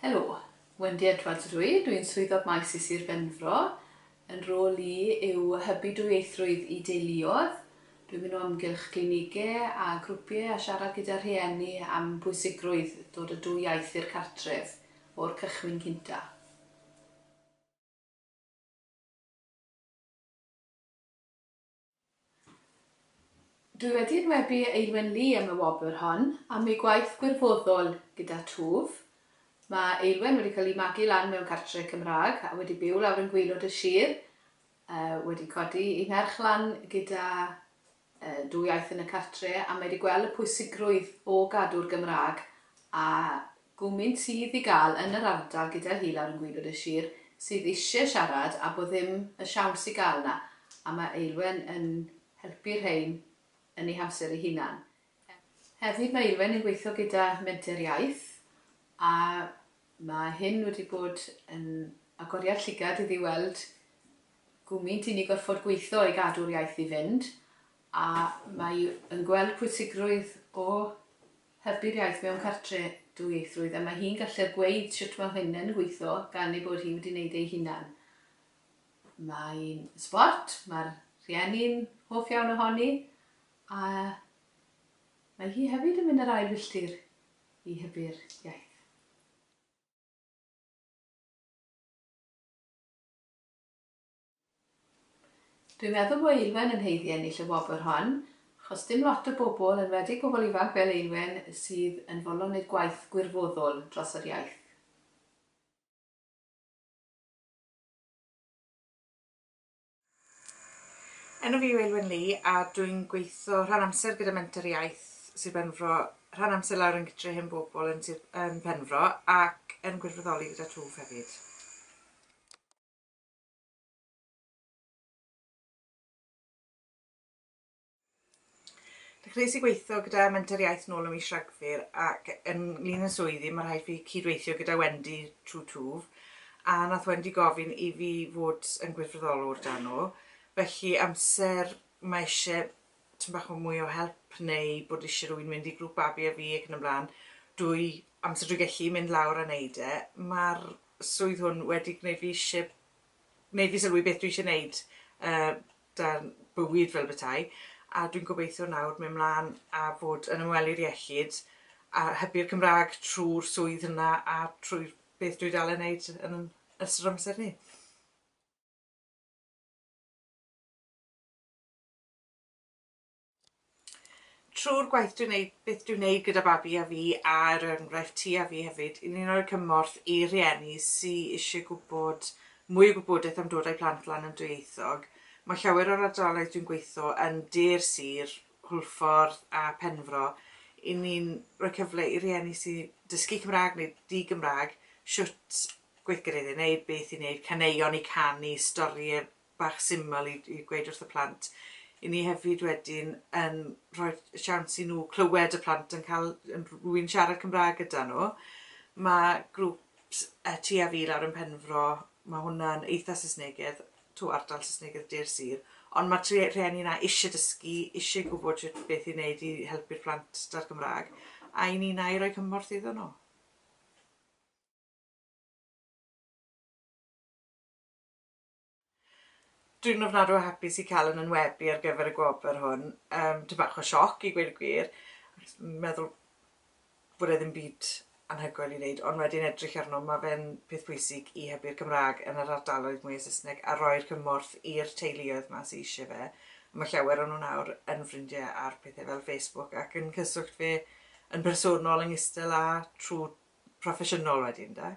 Helo, Wendy Edwards ydw i, dw i'n Swyddog Maes i Sir Benfro. Yn rôl i yw hybu dwyieithrwydd i deuluodd. Dw i'n mynd o amgylch glinigau a grwpiau a siarad gyda rhieni am bwysigrwydd dod â dwy iaith i'r cartref o'r cychwyn cyntaf. Dwi wedi enwebu Eilwen Lee am y wobr hon am ei gwaith gwirfoddol gyda Twf. Mae Eilwen wedi cael ei magu lan mewn cartre Cymraeg a wedi byw lawr yn gwaelod y sir, wedi codi ei merch lan gyda dwy iaith yn y cartre a mae wedi gweld y pwysigrwydd o gadw'r Gymraeg a Gwmyn sydd i gael yn yr ardal gyda hi lawr yn gwaelod y sir sydd isie siarad a bo ddim y siawns i gael na, a mae Eilwen yn helpu rhein yn ei hamser ei hunan. Hefyd mae Eilwen yn gweithio gyda Menter Iaith a mae hyn wedi bod yn agoriad llygad iddi weld gwmyn sy'n ni gorffod gweitho i gadw'r iaith i fynd a mae yn gweld pwysigrwydd o Hybu'r iaith mewn cartre, dwyieithrwydd, a mae hi'n gallu'r gweud shwt mae hyn yn gweitho gan ei bod hi wedi neud ei hunan. Mae'n sbort, mae'r rhieni'n hoff iawn ohoni, a mae hi hefyd yn mynd yr ail filltir i hybu'r iaith. Dwi'n meddwl bo Eilwen yn haeddu ennill y wobr hon, achos dim lot o bobl, enwedig pobl ifanc fel Eilwen, sydd yn fodlon neud gwaith gwirfoddwl dros yr iaith. Enw fi yw Eilwen Lee a dwi'n gweitho rhan amser gyda Menter Iaith Sir Benfro, rhan amser lawr yn Gytre Hen Bobl yn Sir yn Penfro ac yn gwirfoddoli gyda Twf hefyd. Dechreuais i gweithio gyda Menter Iaith nôl ym mis Rhagfyr ac yn lun yn swyddi mae rhaid fi cydweithio gyda Wendy trwy twf a nath Wendy gofyn i fi fod yn gwirfoddolwr dan nhw felly amser mae eisiau tyn bach o mwy o help neu bod eisiau rhywun mynd i grŵp babi a fi ac yn y blaen dwy amser drwy gellu mynd lawr a neud e mae'r swydd hwn wedi gwneud fi isie gwneud fi sylwi beth dwi isie wneud uh, dan bywyd fel bethau a dwi'n gobeithio nawr mynd mlaen a fod yn ymwelydd iechyd a hybu'r Cymraeg trwy'r swydd yna a trwy beth dwi dal yn wneud yn ystod amser ni. Trwy'r gwaith dwi'n neud, beth dwi'n neud gyda babi a fi a er enghraifft ti a fi hefyd, i ni'n rhoi cymorth i rhieni sy isie gwybod mwy o gwybodaeth am dod â'i plant lan yn dwyieithog. Mae llawer o'r ardaloedd dwi'n gweitho yn de'r sir, Hwlffordd a Penfro, i ni'n rhoi cyfle i rieni sy dysgu Cymraeg neu di-Gymraeg shwt gweithgareddau i neud, beth i neud, caneuon i canu, storie bach syml i i gweud wrth y plant. 'Yn ni hefyd wedyn yn rhoi siawns i nhw clywed y plant yn cael yn rh- rwy'n siarad Cymraeg gyda nhw. Ma' grŵp s- yy Ti a Fi lawr yn Penfro ma' hwnna'n eitha Saesnegedd, 'to' ardal Saesnegedd de'r sir. Ond ma'r trie- rhieni 'na isie dysgu, isie gwbod shwt beth i neud i helpu'r plant 'da'r Gymra'g, a 'yn ni'n ail roi cymorth iddon nhw. Dwi'n ofnadw o hapus i cael yn ynwebu ar gyfer y gwobr hwn. Yym, ty bach o sioc i gweud y gwir. Yn meddwl bod e ddim byd anhygoel i wneud, ond wedyn edrych arno, mae fe'n peth pwysig i hybu'r Cymraeg yn yr ardaloedd mwya Saesneg a roi'r cymorth i'r teuluoedd ma sy eisiau fe. Mae llawer o nhw nawr yn ffrindiau ar pethau fel Facebook ac yn cyswllt fe yn personol yn istel a trwy proffesiynol wedyn, de.